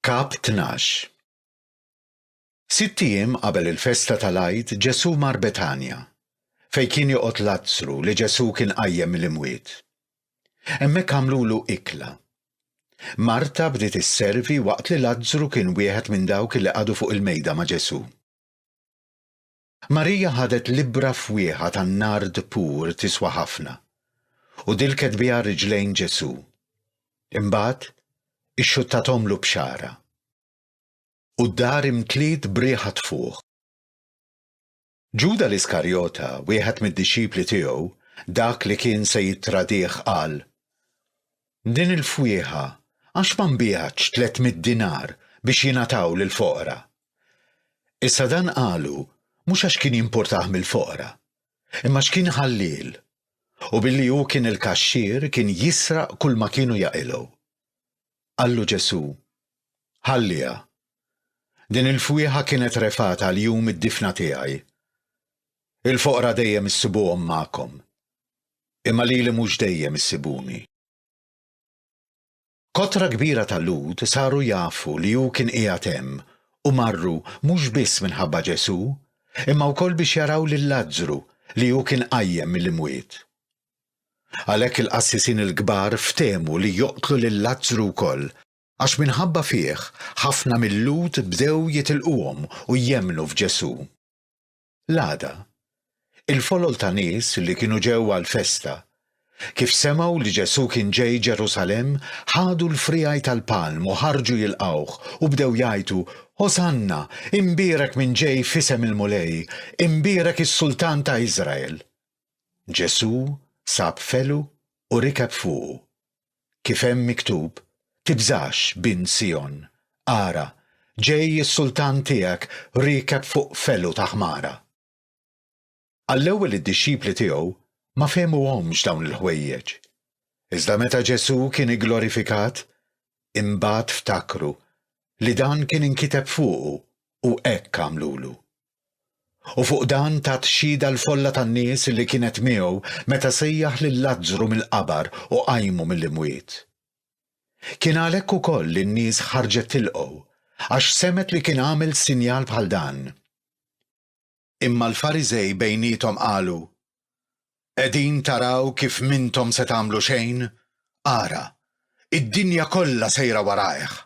Kap 12 Sitt ijiem qabel il-festa tal-Għid Ġesù mar Betanja, fejn kien joqgħod Lazzru li Ġesù kien qajjem mill-imwiet. Hemmhekk għamlulu ikla. Marta bdiet isservi waqt li Lazzru kien wieħed minn dawk li qagħdu fuq il-mejda ma' Ġesù. Marija ħadet l-ibbra fwieħa tan-nard pur tiswa ħafna, u dilket biha riġlejn Ġesù. Imbagħad, ixxuttathomlu b'xagħarha. U d-dar imtliet b'riħa tfuħ. Ġuda l-Iskarjota, wieħed mid-dixxipli tiegħu, dak li kien se jittradih qal, Din il-fwieħa, għax ma nbiegħtx tliet mitt dinar biex jingħataw lill-foqra? Issa dan qalu mhux għax kien jimpurtah mill-foqra, imma għax kien ħalliel, u billi hu kien il-kaxxier kien jisraq kulma kienu jaqilgħu. Qallu Ġesù, Ħalliha. Din il-fwieħa kienet refgħat għal jum id-difna tiegħi. Il-foqra dejjem issibuhom magħkom. imma lili mhux dejjem issibuni. Kotra kbira ta' Lhud saru jafu li hu kien qiegħed hemm u marru mhux biss minħabba Ġesù, imma wkoll biex jaraw lil Lazzru li hu kien qajjem mill-imwiet. Għalhekk il-qassisin il-kbar ftehmu li joqtlu lil Lazzru wkoll, għax minħabba fih ħafna mil-Lhud bdew jitilquhom u jemmnu f'Ġesù. L-għada, il-folol ta' nies li kienu ġew għall-festa, kif semgħu li Ġesù kien ġej Ġerusalemm, ħadu l-friegħi tal-palm u ħarġu jilqgħuh, u bdew jgħajtu, Hosanna! Imbierek min ġej f'isem il-Mulej! Imbierek is-Sultan ta' Iżrael! Ġesù sab felu u rikeb fuqu, kif hemm miktub, Tibżax, bint Sijon, ara, ġej is-Sultan tiegħek riekeb fuq felu ta' ħmara. Għall-ewwel id-dixxipli tiegħu ma fehmuhomx dawn il-ħwejjeġ. Iżda meta Ġesù kien igglorifikat, imbagħad ftakru li dan kien inkiteb fuqu u hekk għamlulu. U fuq dan tat xhieda l-folla tan-nies li kienet miegħu meta sejjaħ lil Lazzru mill-qabar u qajmu mill-imwiet. Kien għalhekk ukoll li n-nies ħarġet tilqgħu, għax semgħet li kien għamel sinjal bħal dan. Imma l-Fariżej bejniethom qalu, Qegħdin taraw kif m'intom se tagħmlu xejn? Ara, id-dinja kollha sejra warajh!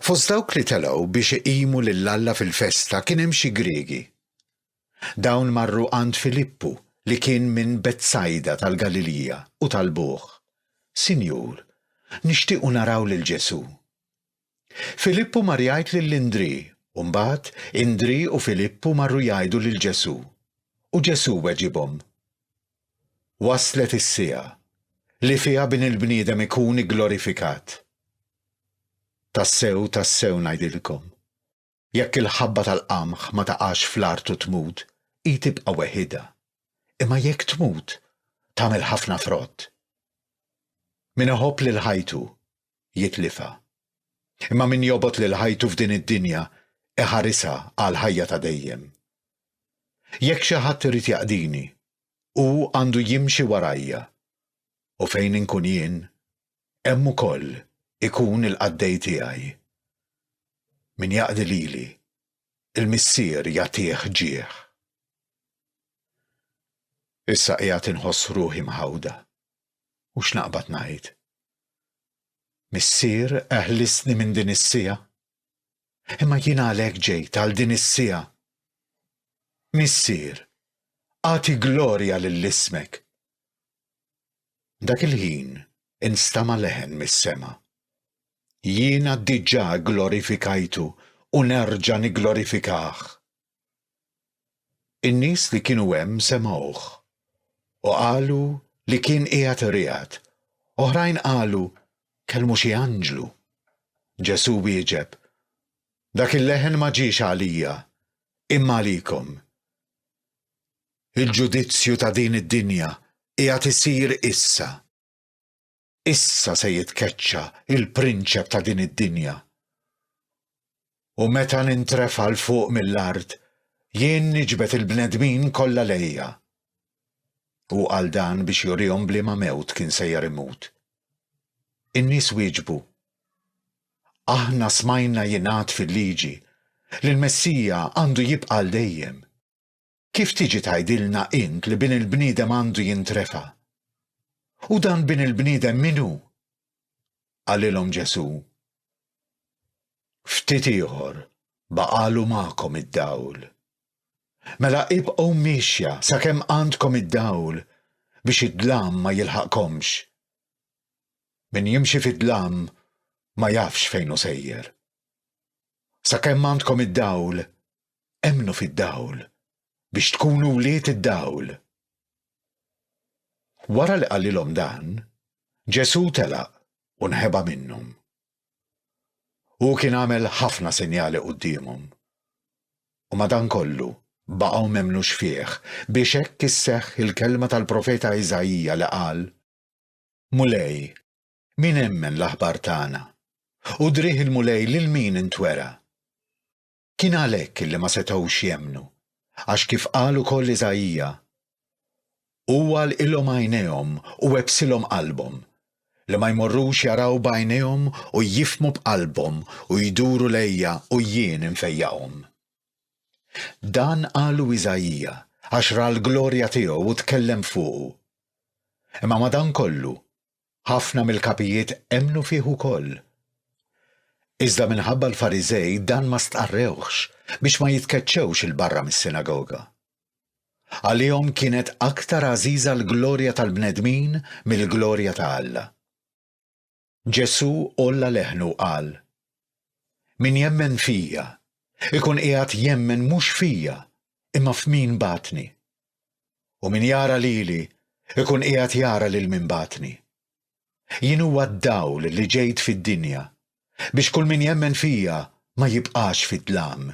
Fost dawk li telgħu biex iqimu lil Alla fil-festa kien hemm xi Griegi. Dawn marru għand Filippu li kien minn Betsajda tal-Galilija u talbuh, Sinjur, nixtiequ naraw lil Ġesù. Filippu mar jgħid lil Indrì u mbagħad Indrì u Filippu marru jgħidu lil Ġesù. U Ġesù weġibhom, Waslet is-siegħa li fiha Bin il-bniedem ikun igglorifikat. Tassew, tassew ngħidilkom, jekk il-ħabba tal-qamħ ma taqax fl-art u tmut, hi tibqa' weħidha, imma jekk tmut, tagħmel ħafna frott. Min iħobb lil ħajtu, jitlifha. Imma min jobgħod lil ħajtu f'din id-dinja iħarisha għal ħajja ta' dejjem. Jekk xi ħadd irid jaqdini, hu għandu jimxi warajja. U fejn inkun jien, hemm ukoll ikun il-qaddej tiegħi. Min jaqdi lili, il-Missier jagħtih ġieħ. Issa qiegħed inħoss ruħi mħawda. u x'naqbad ngħid? Missier eħlisni minn din is-siegħa. Imma jien għalhekk ġejt għal din is-siegħa. Missier, agħti glorja lil ismek. Dak il-ħin instama' leħen mis-sema. Jiena diġà glorifikajtu u nerġa' nigglorifikah. In-nies li kienu hemm semgħuh u qalu li kien qiegħed iriegħed, oħrajn qalu, Kellmu xi anġlu. Ġesù wieġeb, Dak il-leħen ma ġiex għalija, imma għalikom. Il-ġudizzju ta' din id-dinja qiegħed isir issa. Issa se jitkeċċa l-prinċep ta' din id-dinja. U meta nintrefa' l fuq mill-art, jien niġbed il-bnedmin kollha lejja. Hu qal dan biex jurihom bliema mewt kien sejjer imut. In-nies wieġbu, Aħna smajna jingħad fil-Liġi li l-Messija għandu jibqa' għal dejjem. Kif tiġi tgħidilna int li Bin il-bniedem għandu jintrefa'? U dan Bin il-bniedem min hu? Qalilhom Ġesù, Ftit ieħor baqagħlu magħkom id-dawl. Mela ibqgħu miexja sakemm għandkom id-dawl biex id-dlam ma jilħaqkomx. Min jimxi fid-dlam ma jafx fejn hu sejjer. Sakemm għandkom id-dawl, emmnu fid-dawl, biex tkunu wlied id-dawl. Wara li qalilhom dan, Ġesù telaq u nħeba minnhom. Hu kien għamel ħafna sinjali quddiemhom. U madankollu, baqgħu m'emmnux fih biex hekk isseħħ il-kelma tal-profeta Iżaija li qal, Mulej, min emmen l-aħbar tagħna? U driegħ il-Mulej lil min intwera? Kien għalhekk li ma setgħux jemmnu, għax kif qal ukoll Iżaija, Hu għalqilhom għajnejhom u għebbsilhom qalbhom, li ma jmorrux jaraw b'għajnejhom u jifhmu b'qalbhom u jduru lejja u jien infejjaqhom. Dan qalu Iżaija għax ra l-glorja tiegħu u tkellem fuqu. Imma madankollu, Ħafna mill-kapijiet emmnu fih ukoll. Iżda minħabba l-Fariżej dan ma stqarrewhx biex ma jitkeċċewx 'il barra mis-sinagoga. Għalihom kienet aktar għażiża l-glorja tal-bnedmin mill-glorja ta' Alla. Ġesù għolla leħnu u qal, Min jemmen fija, ikun qiegħed jemmen mhux fija, imma f'min bagħatni. U min jara lili, ikun qiegħed jara lil min bagħatni. Jien huwa d-dawl li ġejt fid-dinja, biex kull min jemmen fija ma jibqax fid-dlam.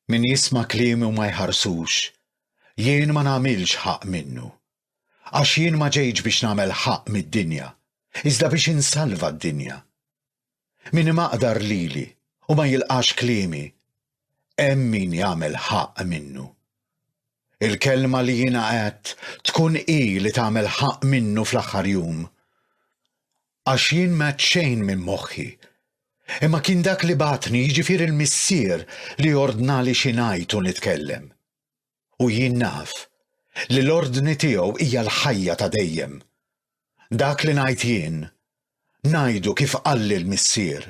Min jisma' kliemi u ma jħarsux, jien ma nagħmilx ħaqq minnu. Għax jien ma ġejtx biex nagħmel ħaqq mid-dinja, iżda biex insalva d-dinja. Min imaqdar lili u ma jilqax kliemi, hemm min jagħmel ħaqq minnu. Il-kelma li jiena għedt tkun hi li tagħmel ħaqq minnu fl-aħħar jum. Għax jien m'għedt xejn minn moħħi, imma kien dak li bagħatni, jiġifieri l-Missier, li ordnali xi ngħid u nitkellem. u jien naf li l-ordni tiegħu hija l-ħajja ta' dejjem. Dak li ngħid jien, ngħidu kif qalli l-Missier.